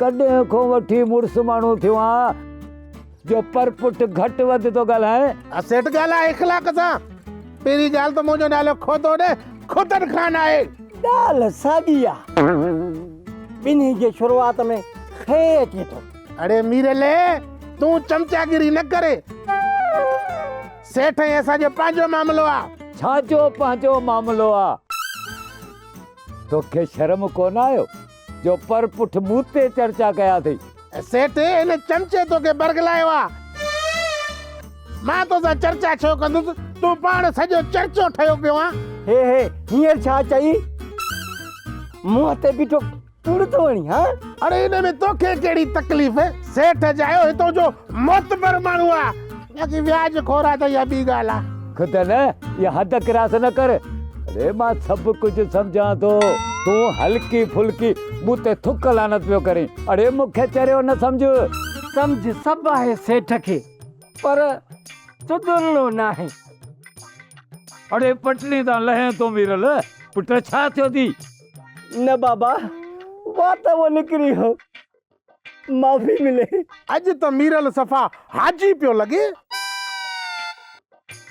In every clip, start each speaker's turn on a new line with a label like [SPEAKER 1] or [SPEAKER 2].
[SPEAKER 1] ڪڏهن کان وٺي مڙس ماڻهو ٿيو آهان جو پر پٺ گهٽ وڌ ٿو ڳالهائين. ها سيٺ ڳالهاء اخلاق
[SPEAKER 2] سان. پهرين ڳالهه ته منهنجو نالو کوتو نه کوتن خان آهي. ڳالهه
[SPEAKER 3] ساڳي آ. ٻنهي جي شروعات ۾ خ اچي ٿو. اڙي ميرلي
[SPEAKER 2] تون چمچاگيري نه ڪر. سيٺ ۽ اسان جو پنهنجو معاملو آ. ڇا جو پنهنجو
[SPEAKER 1] معاملو آ؟ توکي شرم ڪونه آيو؟ جو پر پٺ مون تي چرچا ڪيا اٿئي. سيٺ، هن
[SPEAKER 2] چمچي توکي برغلايو آ. مان توسان چرچا ڇو ڪندس، تون پاڻ سڄو چرچو ٺهيو پيو آن. هي هي، هينئر
[SPEAKER 3] ڇا چئي؟ منهن تي بيٺو ڪوڙ ٿو هڻين هان؟ اڙي ان ۾ توکي
[SPEAKER 2] ڪهڙي تڪليف؟ سيٺ، جايو هتو جو معتبر ماڻهو آ. باقي وياج خور آ ته اها ٻي ڳالهه آ. خدا نه اها
[SPEAKER 1] حد ڪراس نه ڪر. اڙي مان سڀ ڪجهه سمجهان ٿو. تون هلڪي ڦلڪي مون تي ٿڪ لعنت پيو ڪرين. اڙي مون کي چريو نه سمجهه. سمجهه
[SPEAKER 3] سڀ آهي سيٺ کي پر تدرلو ناهي.
[SPEAKER 1] اڙي پٽڙي تان لهين ٿو ميرل پٽ ڇا ٿيو ٿي. نه بابا
[SPEAKER 3] وات اهو نڪري هو. معافي ملي. اڄ ته ميرل
[SPEAKER 2] صفا حاجي پيو لڳي.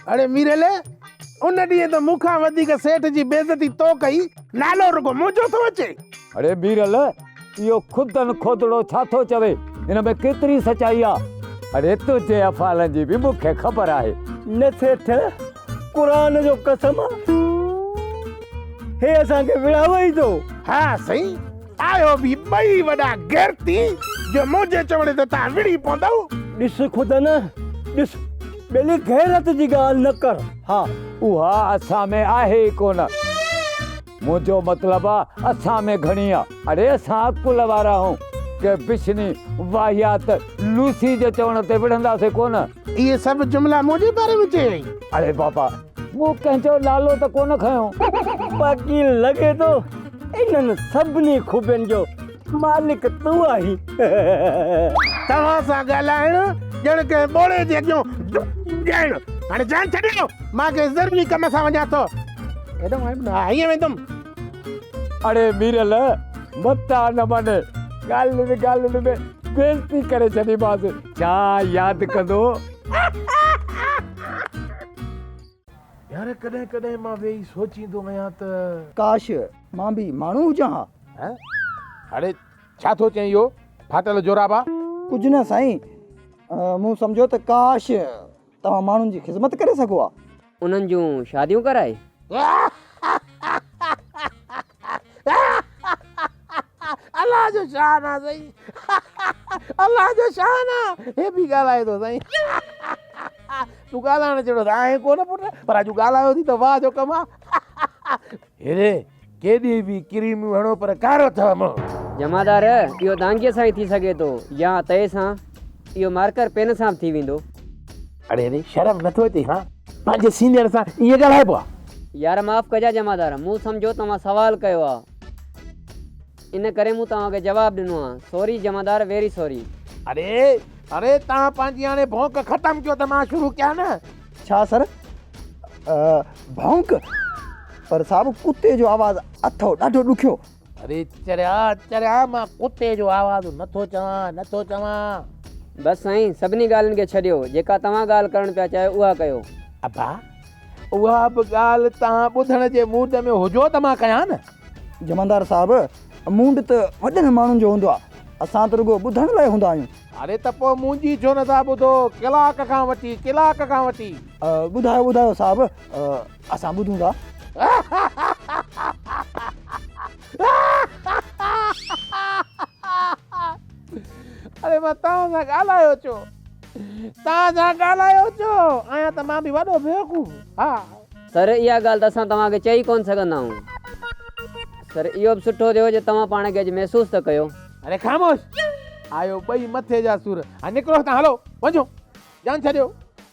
[SPEAKER 2] اڙي ميرل، ان ڏينهن ته مون کان وڌيڪ سيٺ جي بيعزتي تو ڪئي، نالو رڳو منهنجو ٿو اچي. اڙي ميرل،
[SPEAKER 1] اهو خدن کوتڙو ڇا ٿو چوي، ان ۾ ڪيتري سچائي آ؟ اڙي تنهنجي افعالن جي به مون کي خبر آهي. نه سيٺ،
[SPEAKER 3] قرآن جو قسم آ، هي اسان کي وڙهاوي ئي ٿو. ها سائين،
[SPEAKER 2] آهيو به ٻئي وڏا غيرتي، جو منهنجي چوڻي تي توهان وڙهي پوندؤ. ڏس خود نه،
[SPEAKER 3] ڏس ٻيلي غيرت جي ڳالهه نه ڪر. ها، اها
[SPEAKER 1] اسان ۾ آهي ئي ڪونه. منهنجو مطلب آ، اسان ۾ گهڻي آ. اڙي اسان عقل وارا آهيون، ڪنهن بڇني، واهيات لوسي جي چوڻ تي وڙهنداسين ڪونه. اهي سڀ جملا
[SPEAKER 2] منهنجي باري ۾ چيائين. اڙي بابا!
[SPEAKER 1] مون ڪنهن جو نالو ته ڪونه کنيو، باقي
[SPEAKER 3] لڳي ٿو انهن سڀني خوبين جو مالڪ تون آهين.
[SPEAKER 2] توهان سان ڳالهائڻ ڄڻ ڪنهن ٻوڙي جي اڳيون ڊپ ڏيڻ. هاڻي جان ڇڏيو، مان ڪنهن ضروري ڪم سان وڃان ٿو. هيڏانهن آيم نه، هيئن ويندم. اڙي
[SPEAKER 1] ميرل، متان نه مڃ، ڳالهين ڳالهين ۾ بيعزتي ڪري ڇڏيمانس، ڇا ياد ڪندو؟
[SPEAKER 2] يار ڪڏهن ڪڏهن مان ويهي سوچيندو آهيان ته. ڪاش!
[SPEAKER 3] مان به ماڻهو هجان ها. هه هڙي
[SPEAKER 2] ڇا ٿو چئين اهو ڦاٽل جورابا. ڪجهه نه سائين
[SPEAKER 3] مون سمجهيو ته ڪاش! توهان ماڻهن جي خذمت ڪري سگهو ها. انهن جون
[SPEAKER 4] شاديون ڪرائي.
[SPEAKER 2] الله جو شان آ سائين الله جو شان آ هي به ڳالهائي ٿو سائين تون ڳالهائڻ جهڙو ته آهين ڪونه پٽ پر اڄ ڳالهايو ٿي ته واه جو ڪم آ هيري ڪيڏي به ڪريميون هڻو پر ڪارو اٿئو مون جمعدار اهو
[SPEAKER 4] دانگيء سان ئي ٿي سگهي ٿو يا تئي سان اهو مارڪر پين سان به ٿي ويندو. اڙي ري
[SPEAKER 2] شرم نٿو اچي ها پنهنجي سينئر سان ائين ڳالهائبو آ. يار معاف ڪجا
[SPEAKER 4] جمعدار مون سمجهو توهان سوال ڪيو آ ان ڪري مون توهان کي جواب ڏنو آ سوري جمعدار ويري سوري. اڙي
[SPEAKER 2] اڙي توهان پنهنجي هاڻي ڀونڪ ختم ڪيو ته مان شروع ڪيان نه. ڇا سر
[SPEAKER 3] ڀونڪ پر صاحب ڪتي جو آواز اٿئو ڏاڍو ڏکيو. اڙي چريا
[SPEAKER 2] چريا مان ڪتي جو آواز نٿو چوان نٿو چوان. بس
[SPEAKER 4] سائين سڀني ڳالهين کي ڇڏيو جيڪا توهان ڳالهه ڪرڻ پيا چاهيو اها ڪيو. ابا
[SPEAKER 2] اها به ڳالهه توهان ٻڌڻ جي موڊ ۾ هجو ته مان ڪيان نه. جمعدار صاحب
[SPEAKER 3] موڊ ته وڏن ماڻهن جو هوندو آهي اسان ته رڳو ٻڌڻ لاء هوندا آهيون. اڙي ته پوء منهنجي
[SPEAKER 2] ڇو نٿا ٻڌو ڪلاڪ کان وٺي ڪلاڪ کان وٺي. ٻڌايو
[SPEAKER 3] ٻڌايو صاحب اسان ٻڌون ٿا.
[SPEAKER 2] اڙي مان توهان سان ڳالهايو ڇو؟ توهان سان ڳالهايو ڇو؟ آهيان ته مان به وڏو بيوقوف. ها. سر اها
[SPEAKER 4] ڳالهه ته اسان توهان کي چئي ڪونه سگهندا آهيون. سر اهو به سٺو ٿيو جو توهان پاڻ کي اڄ محسوس ته ڪيو. اڙي خاموش!
[SPEAKER 2] آيو ٻئي مٿي جا سور. هاڻي نڪرو هتان هلو وڃو جان ڇڏيو.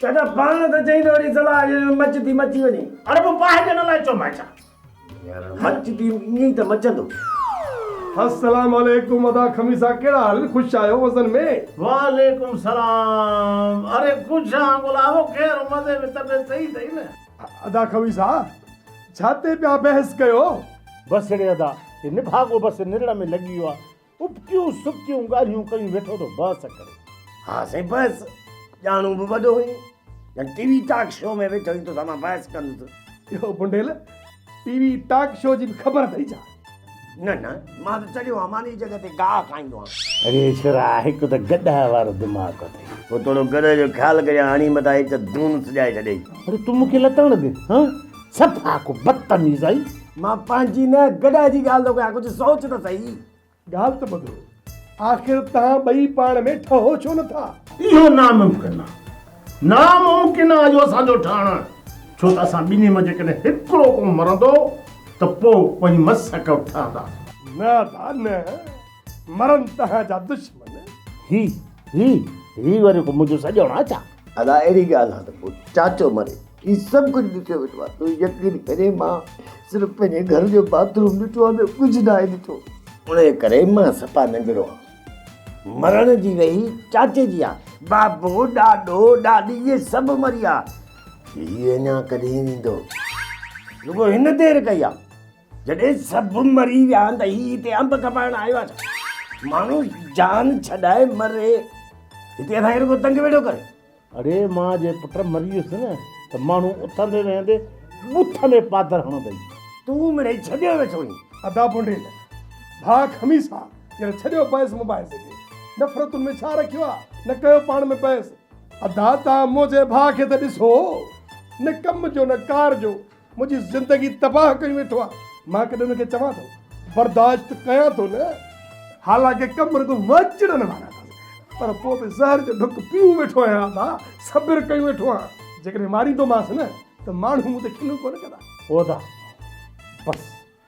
[SPEAKER 5] چاچا پاڻ
[SPEAKER 6] ته چئين ته وري صلاح جي مچ ٿي مچي وڃي. اڙي پوء باهه ڏيڻ لاء
[SPEAKER 5] چومانء ڇا؟ يار مچ
[SPEAKER 6] ٿي ائين ئي ته مچندو.
[SPEAKER 7] السلام عليڪم ادا خميسا ڪهڙا حال خوش آهيو وزن ۾. وعليڪم السلام
[SPEAKER 5] اڙي خوش آهان گلابو خير مزي ۾ طبيعت صحيح اٿئي نه. ادا خميسا
[SPEAKER 7] ڇا تي پيا بحث ڪيو. بس اڙي
[SPEAKER 5] ادا هي نڀاڳو بس نرڙ ۾ لڳي ويو آهي ابتيون سبتيون ڳالهيون ڪيون ويٺو ٿو بحث ڪري. ها سائين بحث
[SPEAKER 6] ڄاڻو به وڏو هئين ڄڻ ٽي وي ٽاڪ شو ۾ ويٺو هئين توسان مان بحث ڪندس. يو بنڊيل
[SPEAKER 7] ٽي وي ٽاڪ شو جي به خبر اٿئي ڇا؟ نه نه
[SPEAKER 6] مان ته چڙهيو آهيان ماني جڳهه تي گاهه کائيندو آهيان. اري ڇورا هڪ
[SPEAKER 5] ته گڏهه وارو دماغ اٿئي. پوء ٿورو گڏهه جو
[SPEAKER 6] خيال ڪريان هڻي مٿان هڪ دون سجائي ڇڏيئي. اري تون مون کي لتاڻ
[SPEAKER 5] ڏي هان. صفا ڪو بدتميز آهي. مان پنهنجي نه
[SPEAKER 6] گڏهه جي ڳالهه ٿو ڪيان ڪجهه سوچ ته سهي. ڳالهه ته ٻڌو.
[SPEAKER 7] آخر توهان ٻئي پاڻ ۾ ٺهو ڇو نه ٿا؟ اهو ناممڪن
[SPEAKER 5] آهي. ناممڪن آهي اهو اسان جو ٺهڻ. ڇو ته اسان ٻنهي مان جيڪڏهن هڪڙو ڪو مرندو ته پوء ٻئي مس اڪو ٺهندا. نه ادا
[SPEAKER 7] نه. مرن توهان جا دشمن. هي هي
[SPEAKER 5] هي وري ڪو منهنجو سڄڻ آهي ڇا؟ ادا اهڙي ڳالهه
[SPEAKER 6] آهي ته پوء چاچو مري هي سڀ ڪجهه ڏٺي ويٺو آهي تون يقين ڪري مان صرف پنهنجي گهر جو باٿ روم ڏٺو آهي ٻيو ڪجهه ناهي ڏٺو انهي ڪري مان صفا ننڍڙو آهيان مرڻ جي ويهي چاچي جي آهي. بابو ڏاڏو ڏاڏي اهي سڀ مريا هي اڃا ڪڏهن ويندو. رڳو هن دير ڪئي آهي جڏهن سڀ مري ويا آهن ته هي هتي انب کپائڻ آيو آهي ڇا ماڻهو جان ڇڏائي مري هتي اسان کي رڳو تنگ ويٺو ڪري. اڙي مان
[SPEAKER 5] جي پٽ مري ويس نه ته ماڻهو اٿندي ويهندي بوٿ ۾ پادر هڻندئي. تون مڙئي
[SPEAKER 6] ڇڏيو ويٺو اهين. ادا بونڊيل
[SPEAKER 7] ڀاء خميسا يار ڇڏيو بحث مباحثي کي نفرتن ۾ ڇا رکيو آ نه ڪيو پاڻ ۾ بحث. ادا تان منهنجي ڀاء کي ته ڏسو نه ڪم جو نه ڪار جو. منهنجي زندگي تباهه ڪئي ويٺو آهي. مان ڪڏهن ان کي چوان ٿو. برداشت ڪيان ٿو نه. حالانڪه ڪم رڳو مان چڙن وارا اٿس. پر پوء به زهر جو ڍڪ پيئون ويٺو آهيان ادا. صبر ڪيون ويٺو آهيان. جيڪڏهن ماريندومانس نه ته ماڻهو مون تي کلون ڪونه ڪندا. هو ادا.
[SPEAKER 5] بس.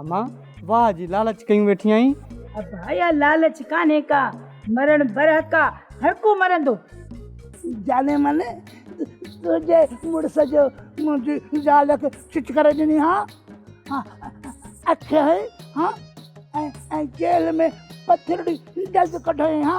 [SPEAKER 3] امان، واهه جي لالچ ڪيون ويٺي آهين. ابايا
[SPEAKER 8] لالچ ڪانهي ڪا، مرڻ برحق آ، هر ڪو مرندو. جاني من، تنهنجي مڙس جو منهنجي زال کي چٽ ڪري ڏني ها، اکيائين ها ۽ جيل ۾ پٿرڙي دز ڪڍيائين ها.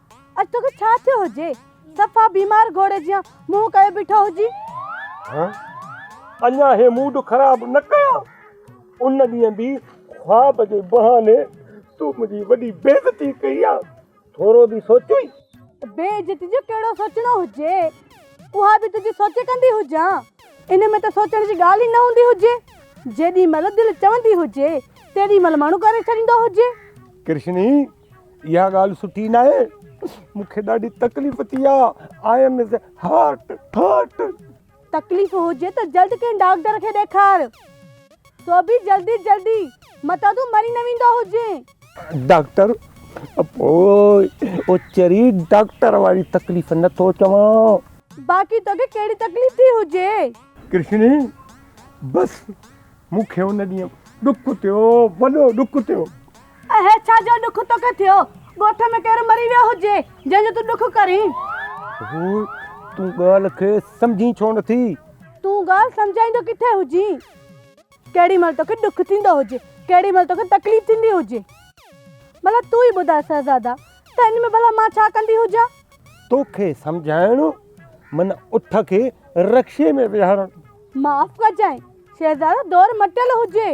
[SPEAKER 9] اڄ توکي ڇا ٿيو هجي؟ صفا بيمار گهوڙي جيان منهن ڪيو بيٺو هجين.
[SPEAKER 3] اڃا هي موڊ خراب نه ڪيان. ان ڏينهن به خواب جي بهاني تون منهنجي وڏي بيعزتي ڪئي آ. ٿورو به سوچيئي؟ بيعزتي
[SPEAKER 9] جو ڪهڙو سوچڻو هجي. اها به تنهنجي سوچ ڪندي هجان. ان ۾ ته سوچڻ جي ڳالهه ئي نه هوندي هجي. جيڏي مهل دل چوندي هجي تيڏي مهل ماڻهو ڪري ڇڏيندو هجي. ڪرشني!
[SPEAKER 3] اها ڳالهه سٺي ناهي مون کي ڏاڍي تڪليف ٿي آ I am is hurt hurt.
[SPEAKER 9] تڪليف هجي ته جلد ڪنهن ڊاڪٽر کي ڏيکار سو به جلدي جلدي متان تون مري نه ويندو هجين. ڊاڪٽر
[SPEAKER 3] پوء اوچري ڊاڪٽر واري تڪليف نه ٿو چوان. باقي توکي ڪهڙي
[SPEAKER 9] تڪليف ٿي هجي. ڪرشني
[SPEAKER 3] بس مون کي ان ڏينهن ڏک ٿيو، وڏو ڏک ٿيو. اهي ڇا
[SPEAKER 9] جو ڏک توکي ٿيو؟ ڳوٺ ۾ ڪير مري ويو هجي، جنهن جو تون ڏک ڪرين؟ هوء،
[SPEAKER 3] تون ڳالهه کي سمجهين ڇو نه ٿي؟ تون ڳالهه
[SPEAKER 9] سمجهائيندو ڪٿي هجين؟ ڪهڙي مهل توکي ڏک ٿيندو هجي، ڪهڙي مهل توکي تڪليف ٿيندي هجي. ڀلا تون ئي ٻڌاء شهزادا، ته ان ۾ ڀلا مان ڇا ڪندي هجان؟ توکي
[SPEAKER 3] سمجهائڻ، من اٺ کي رڪشي ۾ ويهارڻ. معاف ڪجانء،
[SPEAKER 9] شهزادو دور مٽيل هجي.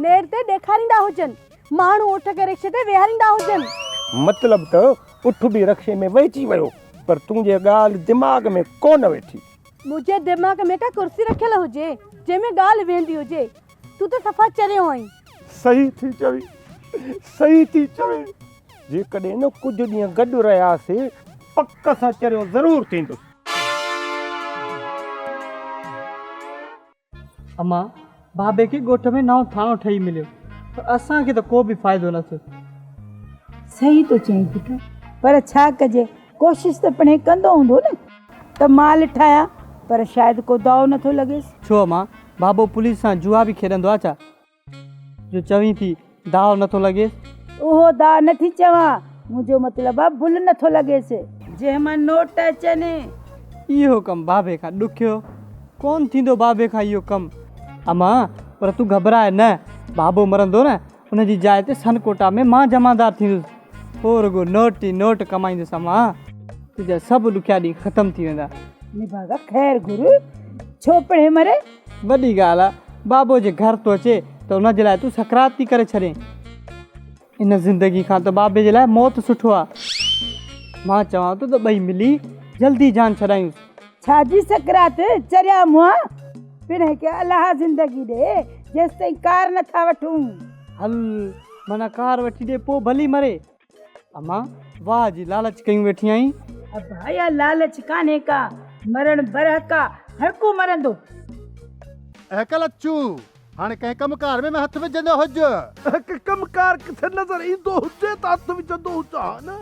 [SPEAKER 9] نير تي ڏيکاريندا هجن. ماڻهو اٺ کي رڪشي تي ويهاريندا هجن. مطلب ته
[SPEAKER 3] اٺ به رڪشي ۾ ويهجي ويو پر تنهنجي ڳالهه دماغ ۾ ڪو نه ويٺي. منهنجي دماغ
[SPEAKER 9] ۾ ڪا ڪرسي رکيل هجي جنهن ۾ ڳالهه ويهندي هجي. تون ته صفا چريو آهين. صحيح ٿي
[SPEAKER 3] چوي صحيح ٿي چوي. جيڪڏهن ڪجهه ڏينهن گڏ رهياسي پڪ سان چريو ضرور ٿيندس.
[SPEAKER 10] اما بابي کي ڳوٺ ۾ نئون ٿاڻو ٺهي مليو پر اسان کي ته ڪو به فائدو نه ٿيو
[SPEAKER 8] صحيح ٿو چئين پٽ پر ڇا ڪجي ڪوشش ته پڻهي ڪندو هوندو نه ته مال ٺاهيا پر شايد ڪو دائو نٿو لڳيس. ڇو اما بابو
[SPEAKER 10] پوليس سان جوا به کيڏندو آ ڇا؟ جو چوين ٿي داهه نٿو لڳيس. اهو داهه
[SPEAKER 8] نٿي چوان، منهنجو مطلب آ بل نٿو لڳيس. جنهن مان نوٽ اچن. اهو
[SPEAKER 10] ڪم بابي کان ڏکيو. ڪون ٿيندو بابي کان اهو ڪم. اما، پر تون گهٻراء نه. بابو مرندو نه، ان جي جاء تي سن ڪوٽا ۾ مان جمعدار ٿيندس. پوء رڳو نوٽ ئي نوٽ ڪمائيندس اما. تنهنجا سڀ ڏکيا ڏينهن ختم ٿي ويندا. نڀاڳا، خير
[SPEAKER 8] گهر. ڇو پهرين مري. وڏي ڳالهه آ
[SPEAKER 10] بابو جي گهر ٿو اچي ته ان جي لاء تون سڪرات ٿي ڪري ڇڏين. ان زندگي کان ته بابي جي لاء موت سٺو آ. مان چوان ٿو ته ٻئي ملي جلدي جان ڇڏايونس. ڇا جي سڪرات
[SPEAKER 8] چريا مونهان پڻ هڪ الها زندگي ڏي جيستائين ڪار نٿا وٺون. هل
[SPEAKER 10] منا ڪار وٺي ڏي پوء ڀلي مري. امان، واهه جي لالچ ڪيون ويٺي آهين. ابا، اها
[SPEAKER 8] لالچ ڪانهي ڪا، مرڻ برحق آ، هر ڪو مرندو.
[SPEAKER 11] اهڪ لچو، هاڻي ڪنهن ڪم ڪار ۾ هٿ وجهندو هج. اهڪ ڪم ڪار
[SPEAKER 2] ڪٿي نظر ايندو هجي ته هٿ وجهندو هجان ها نه.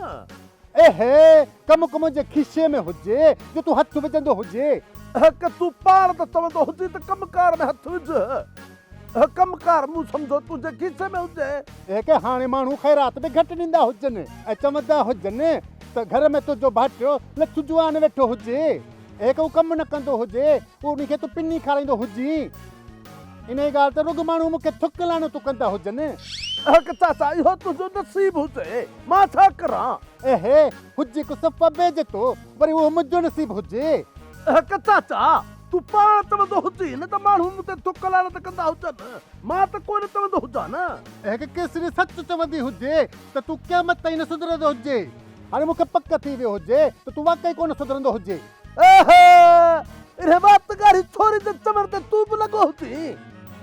[SPEAKER 2] اهي
[SPEAKER 11] ڪم ڪو منهنجي کيسي ۾ هجي جو تون هٿ وجهندو هجي. اهڪ، تون
[SPEAKER 2] پاڻ ته چوندو هجين ته ڪم ڪار ۾ هٿ وجهه. اهو ڪم ڪار مون سمجهو تنهنجي کيسي ۾ هجي. اهي ڪي هاڻي ماڻهو
[SPEAKER 11] خيرات به گهٽ ڏيندا هجن ۽ چوندا هجن ته گهر ۾ تنهنجو ڀائٽيو لڇو جوان ويٺو هجي. اهي ڪو ڪم نه ڪندو هجي پوء ان کي تون پني کارائيندو هجين. انهيء ڳالهه تي رڳ ماڻهو مون کي ٿڪ لعنتون ڪندا هجن. اهي ڪي چاچا
[SPEAKER 2] اهو تنهنجو نصيب هجي مان ڇا ڪران. اهي
[SPEAKER 11] هجي ڪو صفه بي جتو وري اهو منهنجو نصيب هجي. اهي ڪي چاچا
[SPEAKER 2] تون پاڻ چوندو هجين نه ته ماڻهو مون تي ٿڪ لعنت ڪندا هجن. مان ته ڪو نه چوندو هجان نه. اهڪ ڪيسري سچ
[SPEAKER 11] چوندي هجي ته تون قيامت تائين نه سڌرندو هجين. هاڻي مون کي پڪ ٿي ويو هجي ته تون واقعي ڪو نه سڌرندو هجين. اهه!
[SPEAKER 2] انهيء وات ڳاڙهي ڇوري جي چوڻ تي تون به لڳو هجين.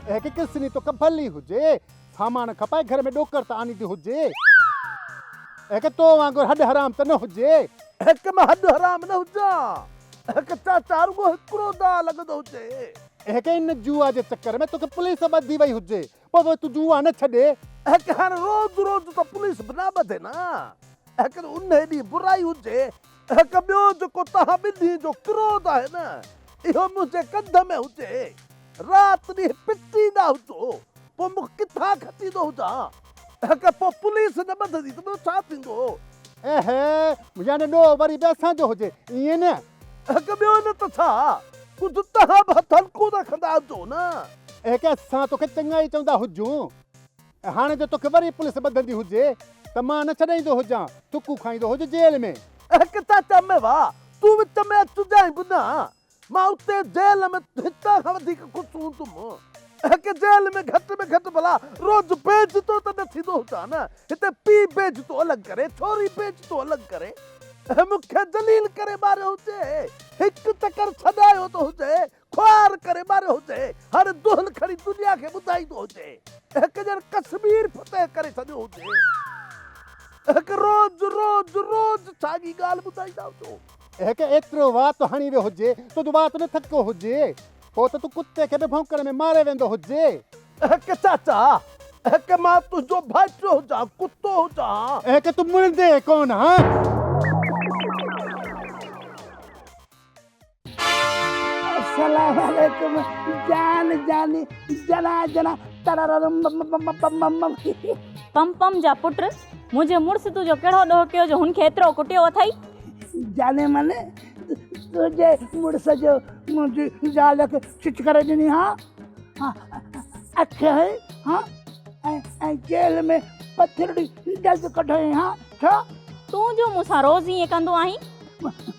[SPEAKER 2] اهڪ ڪيسري
[SPEAKER 11] توکي ڀلي هجي سامان کپائي گهر ۾ ڏوڪر ته آڻيندي هجي. اهڪ تو وانگر هڏ حرام ته نه هجي. اهڪ مان هڏ
[SPEAKER 2] حرام نه هجان. اهڪ چاچا رڳو هڪڙو دانهن لڳندو هجي. اهڪ ان جوا جي
[SPEAKER 11] چڪر ۾ توکي پوليس ٻڌي وئي هجي. پوء به تون جوا نه ڇڏي. اهڪ هاڻ روز
[SPEAKER 2] روز ته پوليس به نه ٻڌي نه. اهڪ ته انهي ڏينهن برائي هجي. هڪ ٻيو جيڪو توهان ٻنهي جو ڪروڌ آهي نه، اهو منهنجي ڪنڌ ۾ هجي، رات ڏينهن پٽيندا هجو، پوء مون ڪٿان کٽيندو هجان؟ هڪ پوء پوليس نه ٻڌندي ته ٻيو ڇا ٿيندو؟ اهي،
[SPEAKER 11] يعني ڏوهه وري به اسان جو هجي، ائين نه؟ هڪ ٻيو نه
[SPEAKER 2] ته ڇا، ڪجهه توهان به هٿ هلڪو رکندا هجو نه؟ اهي ڪيس اسان
[SPEAKER 11] توکي چڱائي چوندا هجون. هاڻي جو توکي وري پوليس ٻڌندي هجي ته مان نه ڇڏائيندو هجان، ٿڪون کائيندو هج جيل ۾. اهڪ ڇا چئمين
[SPEAKER 2] وا، تون وچ ۾ اچ جانء به نه، مان اتي جيل ۾ هتان کان وڌيڪ خوش هوندم. اهڪ جيل ۾ گهٽ ۾ گهٽ ڀلا روز بيجتو ته نه ٿيندو هجان نه، هتي پيء بيجتو الڳ ڪري، ڇوري بيجتو الڳ ڪري، مون کي ذليل ڪري ماريو هجي، هڪ چڪر ڇڏايو ته هجي، خوار ڪري ماريو هجي، هاڻي دهل کڻي دنيا کي ٻڌائيندو هجي، اهڪ ڄڻ ڪشمير فتح ڪري ڇڏيو هجي، اهڪ روز روز روز ساڳي ڳالهه ٻڌائيندا هجو. اهڪ ايترو
[SPEAKER 11] وات هڻي ويو هجي، تنهنجو وات نه ٿڪو هجي، پوء ته تون ڪتي کي به ڀونڪڻ ۾ ماري ويندو هجي. اهڪ چاچا،
[SPEAKER 2] اهڪ مان تنهنجو ڀائٽيو هجان، ڪتو هجان ها. اهڪ تون مڙندي ئي
[SPEAKER 11] ڪونه ها.
[SPEAKER 8] السلام عليڪم جان جاني جنا جنا تررم
[SPEAKER 12] پم پم جا پٽ منهنجي مڙس تو جو ڪهڙو ڏوهه ڪيو جو هن کي ايترو ڪٽيو اٿئي جاني
[SPEAKER 8] من تنهنجي مڙس جو منهنجي زال کي چچ ڪري ڏني ها اک هي ها ۽ جيل ۾ پٿرڙي ڊز ڪڍي ها ڇا تون جو مون
[SPEAKER 12] سان روز ائين ڪندو آهين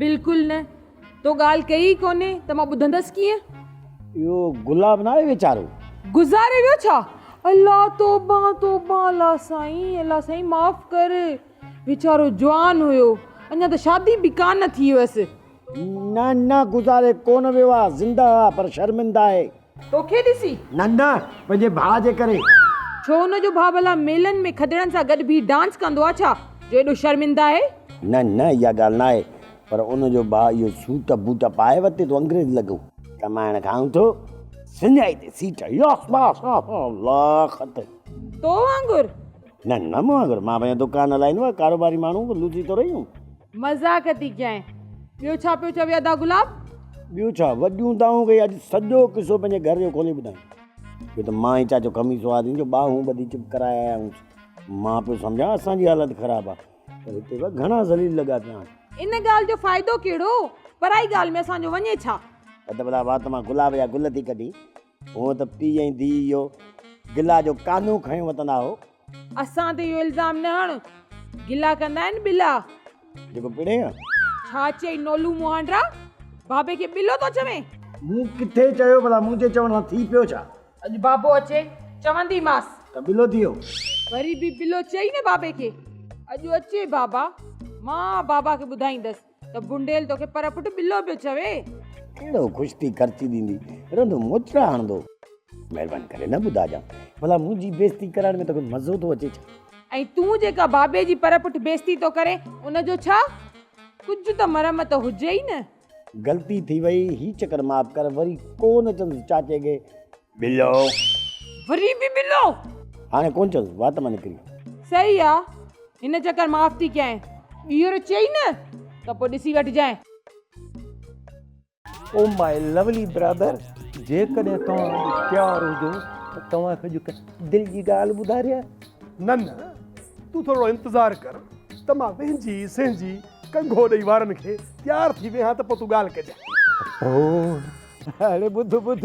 [SPEAKER 2] بلڪل نه،
[SPEAKER 9] تو ڳالهه ڪئي ئي ڪونهي ته مان ٻڌندس ڪيئن؟ اهو
[SPEAKER 2] گلاب ناهي ويچارو. گذاري ويو
[SPEAKER 9] ڇا؟ الا توبه توبه الا سائين الا سائين معاف ڪر. ويچارو جوان هيو اڃا ته شادي به ڪانه ٿي هيس. نه نه
[SPEAKER 2] گذاري ڪونه ويو آ زنده آ پر شرمنده آهي. توکي ڏسي؟
[SPEAKER 9] نه نه پنهنجي
[SPEAKER 2] ڀاء جي ڪري. ڇو ان جو
[SPEAKER 9] ڀاء ڀلا ميلن ۾ کدڙن سان گڏ بيهي ڊانس ڪندو آ ڇا جو ايڏو شرمنده آهي؟ نه نه اها
[SPEAKER 2] ڳالهه ناهي پر ان جو ڀاء اهو سوٽ بوٽ پائي ورتي ٿو انگريز لڳو ڪمائڻ کائون ٿو سڃائي تي سيٽ ياس باس الله خط. تو وانگر.
[SPEAKER 9] نه نه مون
[SPEAKER 2] وانگر مان پنهنجو دڪان هلائيندو آهيان ڪاروباري ماڻهو به لوڌي ٿو رهيون. مذاق ٿي
[SPEAKER 9] ڪيائين ٻيو ڇا پيو چوي ادا گلاب. ٻيو ڇا
[SPEAKER 2] وڏيون دانهون ڪئي اڄ سڄو قصو پنهنجي گهر جو کولي ٻڌائين. اهو ته مان ئي چاچو خميسو آدين جو ٻانهون ٻڌي چپ ڪرائي آيا آهيونس مان پيو سمجهان اسان جي حالت خراب آ پر هتي به گهڻا ذليل لڳا پيا آهن. ان ڳالهه جو فائدو
[SPEAKER 9] ڪهڙو پرائي ڳالهه ۾ اسان جو وڃي ڇا. ادا بلا وات
[SPEAKER 2] مان گلاب جا گل ٿي ڪڍين هونء ته پيء ۽ ڌيء اهو گلا جو قانون کڻي وتندا هو. اسان تي اهو
[SPEAKER 9] الزام نه هڻ. گلا ڪندا آهن ٻلا. جيڪو پڙهي
[SPEAKER 2] ها. ڇا چيئي
[SPEAKER 9] نولو مهانڊرا؟ بابي کي ٻلو ٿو چوين؟ مون ڪٿي
[SPEAKER 2] چيو ڀلا؟ منهنجي چوڻ سان ٿي پيو ڇا؟ اڄ بابو اچي
[SPEAKER 9] چونديمانس. ته ٻلو ٿي ويو.
[SPEAKER 2] وري به
[SPEAKER 9] ٻلو چيئي نه بابي کي. اڄ اچي بابا. مان بابا کي ٻڌائيندس. ته بنڊيل توکي پر پٽ ٻلو پيو چوي. ڪهڙو خوش
[SPEAKER 2] ٿي خرچي ڏيندي رهندو موچڙا هڻندو. مهرباني ڪري نه ٻڌاجانء ڀلا منهنجي بيزتي ڪرائڻ ۾ توکي مزو ٿو اچي ڇا؟ ۽ تون جيڪا بابي
[SPEAKER 9] جي پر پٺ بيزتي ٿو ڪرين ان جو ڇا؟ ڪجهه ته مرمت هجئي نه. غلطي ٿي
[SPEAKER 2] وئي هي چڪر معاف ڪر وري ڪو نه چوندس چاچي کي ٻلو. وري
[SPEAKER 9] به ٻلو. هاڻي ڪونه چوس
[SPEAKER 2] وات مان نڪري. صحيح آ
[SPEAKER 9] هن چڪر معاف ٿي ڪيائين. ٻيهر چئي نه ته پوء ڏسي وٺجانء.
[SPEAKER 3] او ماء لوولي برادر جيڪڏهن توهان اڄ تيار هجو ته توهان کي اڄ هڪ دل جي ڳالهه ٻڌاريان. نه نه
[SPEAKER 7] تون ٿورڙو انتظار ڪر ته مان وهنجي سهنجي ڪنگهو ڏئي وارن کي تيار ٿي ويهان ته پوء تون ڳالهه ڪجانء. او اڙي ٻڌ
[SPEAKER 1] ٻڌ.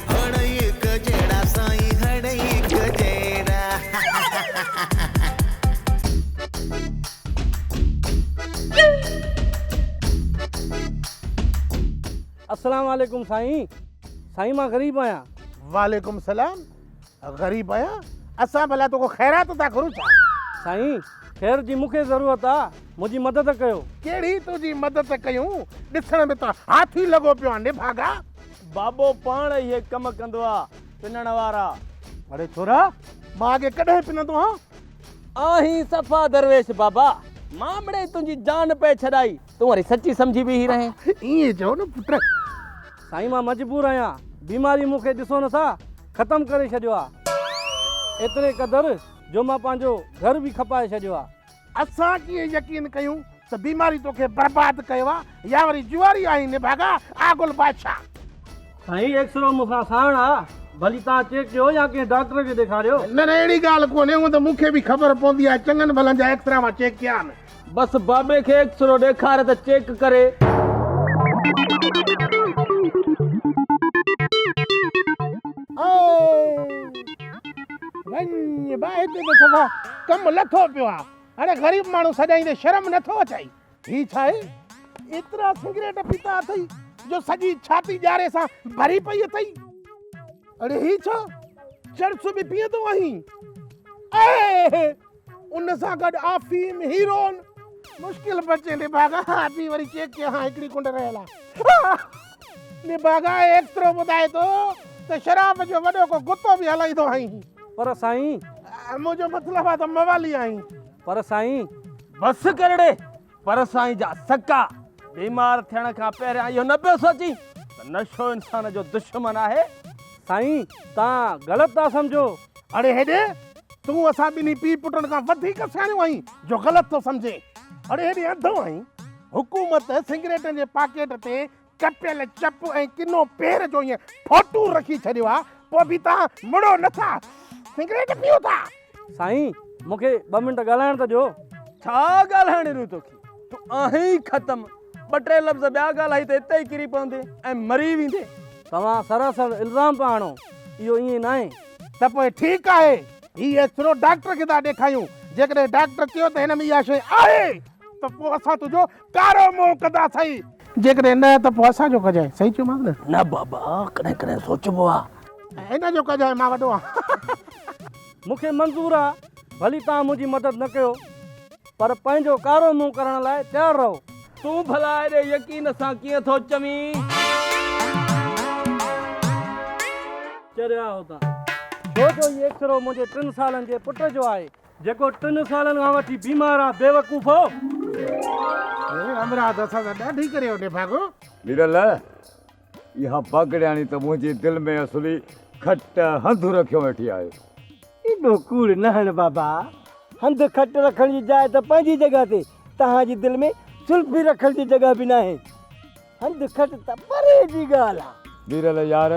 [SPEAKER 13] هڙئي هڪ جهڙا
[SPEAKER 10] سائين هڙئي هڪ جهڙا. السلام عليڪم سائين سائين مان غريب آهيان. وعليڪم السلام
[SPEAKER 2] غريب آهيان اسان ڀلا توکان خيرات ٿا گهرون ڇا. سائين
[SPEAKER 10] خير جي مونکي ضرورت آ منهنجي مدد ڪيو. ڪهڙي تنهنجي
[SPEAKER 2] مدد ڪيون ڏسڻ ۾ ته هاٿي لڳو پيو آهين نڀاڳا. بابو
[SPEAKER 10] پاڻ اهي ڪم ڪندو آ پنڻ وارا. اڙي ڇورا
[SPEAKER 2] مان اڳي ڪڏهن پنندو هان. آهين
[SPEAKER 10] صفا درويش بابا مان مڙئي تنهنجي جان پئي ڇڏائي تون وري سچي سمجهي بيهي رهين. ائين چئو نه پٽ.
[SPEAKER 2] سائين مان
[SPEAKER 10] مجبور آهيان بيماري مون کي ڏسو نه سا ختم ڪري ڇڏيو آ ايتري قدر جو مان پنهنجو گهر به کپائي ڇڏيو آ اسان ڪيئن يقين
[SPEAKER 2] ڪيون ته بيماري توکي برباد ڪيو آ يا وري جواري آهين نڀاڳا آ گل بادشاھ. سائين
[SPEAKER 10] ايڪسرو مون کان ساڻ آ ڀلي توهان چيڪ ڪيو يا ڪنهن ڊاڪٽر کي ڏيکاريو. نه نه اهڙي ڳالهه
[SPEAKER 2] ڪونهي هونء ته مون کي به خبر پوندي آهي چڱن ڀلن جا ايڪسرا مان چيڪ ڪيا آهن. بس بابي کي
[SPEAKER 10] ايڪسرو ڏيکار ته چيڪ ڪري. اهي.
[SPEAKER 2] وڃ با هتي ته صفا ڪم لٿو پيو آ اڙي غريب ماڻهو سڏائين تي شرم نٿو اچائي هي ڇا آهي ايترا سگريٽ پيتا اٿئي جو سڄي ڇاتي ڄاري سان ڀري پئي اٿئي اڙي هي ڇا چرس به پيئندو آهين اي ان سان گڏ آفيم، هيرون، مشڪل بچي نڀاڳا آپي وري چيڪ ڪيا ها هڪڙي ڪنڊ رهيل آهي. نڀاڳا ايڪترو ٻڌائي ٿو ته شراب جو وڏو ڪو گتو به هلائيندو آهين. پر سائين!
[SPEAKER 10] منهنجو
[SPEAKER 2] مطلب آهي ته
[SPEAKER 10] موالي
[SPEAKER 2] آهين.
[SPEAKER 10] پر
[SPEAKER 2] سائين!
[SPEAKER 10] بس
[SPEAKER 2] ڪرڙي! پر سائين جا سڪا! بيمار ٿيڻ کان پهريان اهو نه پيو سوچين ته نشو انسان جو دشمن آهي؟ سائين!
[SPEAKER 10] توهان غلط ٿا سمجهو. اڙي هيڏي،
[SPEAKER 2] تون اسان ٻنهي پيء پٽن کان وڌيڪ سياڻيون آهين جو غلط ٿو سمجهين. اڙي هيڏي انڌو آهين. حڪومت سگريٽن جي پاڪيٽ تي ڪپيل چپ ۽ ڪنو پير جو ائين ڦوٽو رکي ڇڏيو آهي، پوء به توهان مڙو نه ٿا، سگريٽ پيئو ٿا. سائين،
[SPEAKER 10] مون کي ٻه منٽ ڳالهائڻ ته ڏيو. ڇا
[SPEAKER 2] ڳالهائڻ ڏيون توکي؟ تون آهين ئي ختم. ٻه ٽي لفظ ٻيا ڳالهائي ته اتي ئي ڪري پوندي ۽ مري ويندي. توهان سراسر
[SPEAKER 10] الزام پيا هڻو. اهو ائين ناهي. ته پوء ٺيڪ
[SPEAKER 2] آهي. هي ايڪس رو ڊاڪٽر کي ٿا ڏيکايون. جيڪڏهن ڊاڪٽر چيو ته هن ۾ اها شيء آهي ته پوء اسان تنهنجو ڪارو منهن ڪنداسين. جيڪڏهن نه ته پوء اسان جو ڪجانء. صحيح چيومانس نه؟ نه بابا، ڪڏهن ڪڏهن سوچبو آهي. ۽ هن جو ڪجانء. مان وڏو آهيان. مون کي
[SPEAKER 10] منظور آهي. ڀلي توهان منهنجي مدد نه ڪيو. پر پنهنجو ڪارو منهن ڪرڻ لاء تيار رهو. تون ڀلا ايڏي
[SPEAKER 2] يقين سان ڪيئن ٿو چوين؟
[SPEAKER 10] چريا هوتان. ڇو جو هي ايڪسرو منهنجي ٽن سالن جي پٽ جو آهي. جيڪو ٽن سالن کان وٺي بيمار آ بيوقوفو. اي همراهه
[SPEAKER 2] تو اسان سان ڏاڍي ڪريو نڀاڳو. ميرل
[SPEAKER 1] اها باگڙياڻي ته منهنجي دل ۾ اصلي کٽ هنڌ رکيو ويٺي آهي. ايڏو
[SPEAKER 3] ڪوڙ نه هڻ بابا. هنڌ کٽ رکڻ جي جاء ته پنهنجي جڳهه تي، توهان جي دل ۾ زلفي رکڻ جي جڳهه به ناهي. هنڌ کٽ ته پري جي ڳالهه آ. ويرل يار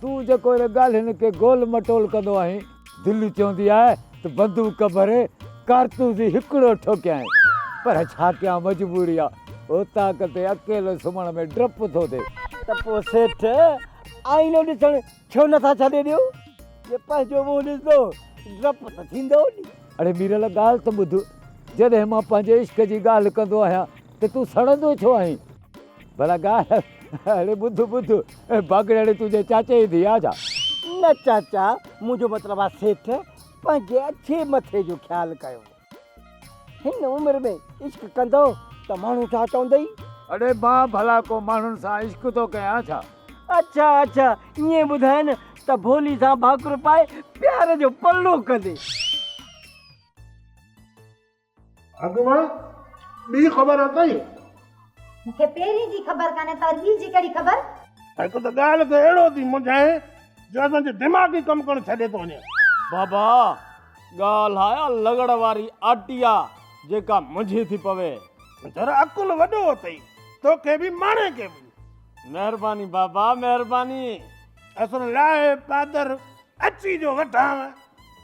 [SPEAKER 1] تون جيڪو هن ڳالهين کي گول مٽول ڪندو آهين، دل چوندي آهي ته بندوق ڀري ڪارتوس ئي هڪڙو ٺوڪيائين پر ڇا ڪيان مجبوري آ. اوطاق تي اڪيلو سمهڻ ۾ ڊپ ٿو ٿئي. ته پوء سيٺ
[SPEAKER 3] آئينو ڏسڻ ڇو نه ٿا ڇڏي ڏيو. جي پنهنجو منهن ڏسندو ڊپ ته ٿيندو ني. اڙي ميرل ڳالهه
[SPEAKER 1] ته ٻڌ. جڏهن مان پنهنجي عشق جي ڳالهه ڪندو آهيان ته تون سڙندو ڇو آهين. ڀلا ڳالهه اڙي ٻڌ ٻڌ باگڙياڻي تنهنجي چاچي جي ڌيء آ ڇا؟ نه چاچا
[SPEAKER 3] منهنجو مطلب آ سيٺ پنهنجي اڇي مٿي جو خيال ڪيو. هن عمر ۾ عشق ڪندو ته ماڻهو ڇا چوندئي؟ اڙي مان
[SPEAKER 1] ڀلا ڪو ماڻهن سان عشق ٿو ڪيان ڇا؟ اڇا اڇا
[SPEAKER 3] ائين ٻڌائين ته ڀولي سان ڀاڪر پائي پيار جو پلو ڪندي.
[SPEAKER 2] اڳ مان ٻي خبر اٿئي؟ مون کي
[SPEAKER 14] پهرين جي خبر ڪانهي پر ٻي جي ڪهڙي خبر؟ هڪ ته ڳالهه
[SPEAKER 2] کي اهڙو ٿي منجهائين جو اسان جو دماغ ئي ڪم ڪرڻ ڇڏي ٿو وڃي. بابا ڳالهه آ اها لغڙ واري آٽي آ جيڪا منجهي ٿي پوي. ذرا عقل وڏو اٿئي توکي به ماڻهي کي به. مهرباني بابا مهرباني. اصل لاهي پادر اچي جو وٺان.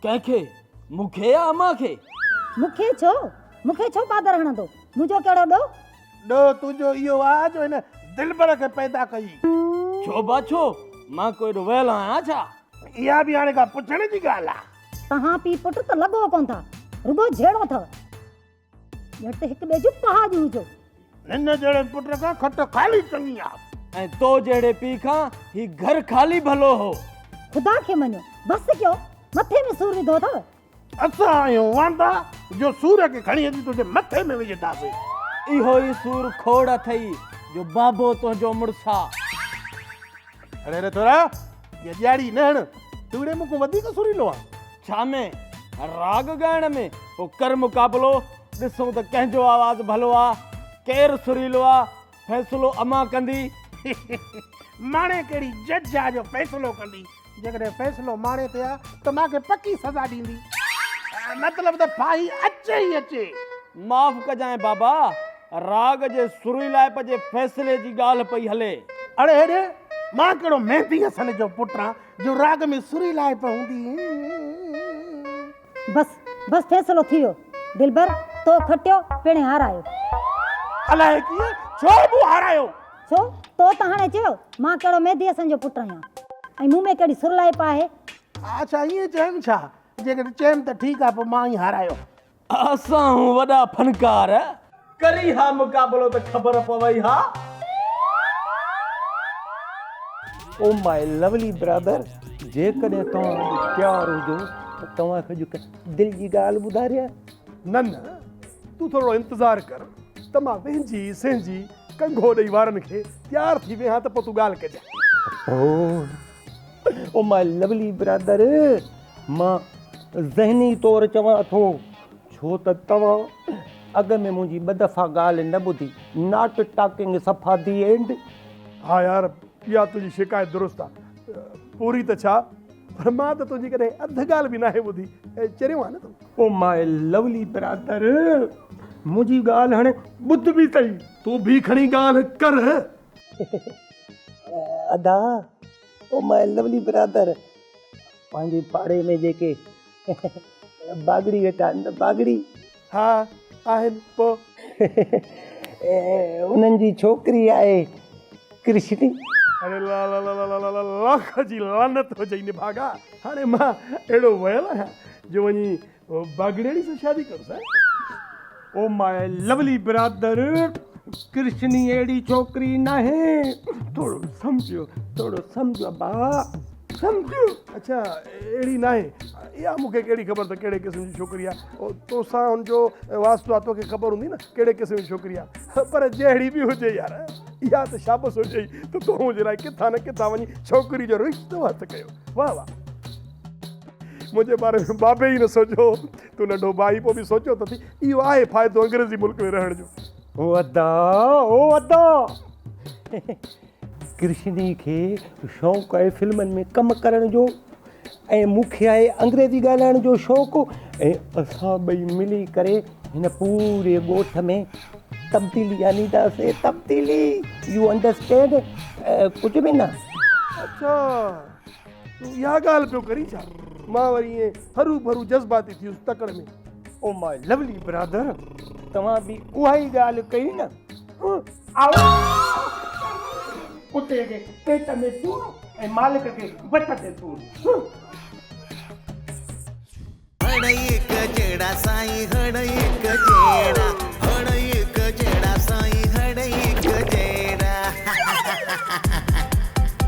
[SPEAKER 2] ڪنهن کي؟ مون کي يا امان کي؟ مون کي ڇو؟
[SPEAKER 14] مون کي ڇو پادر هڻندو؟ منهنجو ڪهڙو ڏوهه؟ ڏوهه تنهنجو
[SPEAKER 2] اهو آ جو هن دلبر کي پيدا ڪيئي. ڇو با ڇو؟ مان ڪو ايڏو ويل آهيان ڇا؟ اها به هاڻي ڪا پڇڻ جي ڳالهه آ. توهان پيء پٽ ته
[SPEAKER 14] لڳو ڪونه ٿا. رڳو جهيڙو اٿو. گهٽ هڪ ٻئي جون پهاڄون هجو. هن جهڙي
[SPEAKER 2] پٽ کان کٽ خالي چڱي آ. ۽ تو جهڙي پيء کان هي گهر خالي ڀلو هو. خدا کي مڃو.
[SPEAKER 14] بس ڪيو. مٿي ۾ سور وڌو اٿو. اسان آهيون
[SPEAKER 2] واندا جو سور کي کڻي اچي تنهنجي مٿي ۾ وجهنداسين. اهو ئي سور کوڙ اٿئي جو بابو تنهنجو مڙس آ. اڙي اڙي ٿورا يا ڄاڙي نه هڻ توڙي مون کان وڌيڪ سريلو آهين. ڇا ۾ راڳ ڳائڻ ۾ پو ڪر مقابلو ڏسون ته ڪنهن جو آواز ڀلو آ ڪير سريلو آ فيصلو امان ڪندي. ماڻي ڪهڙي جج آ جو فيصلو ڪندي جيڪڏهن فيصلو ماڻي تي آ ته مان کي پڪي سزا ڏيندي مطلب ته ڦاهي اچي ئي اچي. معاف ڪجانء بابا راڳ جي سريلائپ جي فيصلي جي ڳالهه پئي هلي. اڙي اڙي، مان ڪهڙو ميندي حسن جو پٽ آهيان جو راڳ ۾ سريلائپ هوندي. بس
[SPEAKER 14] بس فيصلو ٿي ويو. دلبر تو کٽيو پڻهين هارايو. الائي
[SPEAKER 2] ڪيئن ڇو مون هارايو. ڇو تو
[SPEAKER 14] ته هاڻي چيو مان ڪهڙو ميندي حسن جو پٽ آهيان ۽ مون ۾ ڪهڙي سرلائپ آهي. اڇا ائين
[SPEAKER 2] چيم ڇا؟ جيڪڏهن چيم ته ٺيڪ آهي پوء مان ئي هارايو. اسان هون وڏا فنڪار. ڪري ها مقابلو ته خبر پوي ها.
[SPEAKER 3] او ماء لوولي برادر جيڪڏهن توهان اڄ تيار هجو ته توهان کي اڄ هڪ دل جي ڳالهه ٻڌاريان. نه نه
[SPEAKER 7] تون ٿورڙو انتظار ڪر ته مان وهنجي سهنجي ڪنگهو ڏئي وارن کي تيار ٿي ويهان ته پوء تون ڳالهه ڪجان.
[SPEAKER 3] Oh my lovely brother. مان ذهني طور چوان ٿو ڇو ته توهان اڳ
[SPEAKER 2] ۾ منهنجي ٻه دفعا ڳالهه نه ٻڌي Not Talking صفا The End. ها يار
[SPEAKER 7] اها تنهنجي شڪايت درست آ پوري ته ڇا پر مان ته تنهنجي ڪڏهن اڌ ڳالهه به ناهي ٻڌي چريو آهي نه تون. او ماء
[SPEAKER 2] لولي برادر منهنجي ڳالهه هاڻي ٻڌ به تئي. تون به کڻي
[SPEAKER 7] ڳالهه ڪر.
[SPEAKER 2] ادا. او ماء لولی برادر پنهنجي پاڙي ۾ جيڪي باگڙي ويٺا آهن ته باگڙي. ها
[SPEAKER 7] آهن پو.
[SPEAKER 2] انهن جي ڇوڪري آهي ڪرشني. اري
[SPEAKER 7] لالالالالالالالالاخ جي لعنت هجئي نڀاڳا هاڻي مان اهڙو ويل آهيان جو وڃي او باگڙياڻي سان شادي ڪر سائين.
[SPEAKER 2] او ماء
[SPEAKER 7] لولی
[SPEAKER 2] برادر ڪرشني اهڙي ڇوڪري ناهي ٿورو سمجهيو ٿورو سمجهيو ابا سمجهيو. اڇا
[SPEAKER 7] اهڙي ناهي اها مون کي ڪهڙي خبر ته ڪهڙي قسم جي ڇوڪري آهي تو سان ان جو واسطو آهي تو کي خبر هوندي نه ڪهڙي قسم جي ڇوڪري آهي پر جهڙي به هجي يار اها ته شابس هجئي ته تو منهنجي لاء ڪٿان نه ڪٿان وڃي ڇوڪري جو رشتو هٿ ڪيو واهه واهه. منهنجي باري ۾ بابي ئي نه سوچيو تو ننڍو ڀائي پوء به سوچيو ته اٿي اهو آهي فائدو انگريزي ملڪ ۾ رهڻ جو. او ادا
[SPEAKER 2] او ادا ڪرشني کي شوق آهي فلمن ۾ ڪم ڪرڻ جو ۽ مون کي آهي انگريزي ڳالهائڻ جو شوق ۽ اسان ٻئي ملي ڪري هن پوري ڳوٺ ۾ تبديلي آنداسي تبديلي يو انڊرسٽينڊ ڪجهه به نه اڇا
[SPEAKER 7] تون اها ڳالهه پيو ڪرين ڇا؟ مان وري ائين هرو ڀرو جذباتي ٿيس تڪڙ ۾. او ماء لوولي
[SPEAKER 2] برادر، توهان به اها ئي ڳالهه ڪئي نه؟ آئو ڪتي جي پيٽ ۾ سور ۽ مالڪ کي وٽ تي سور.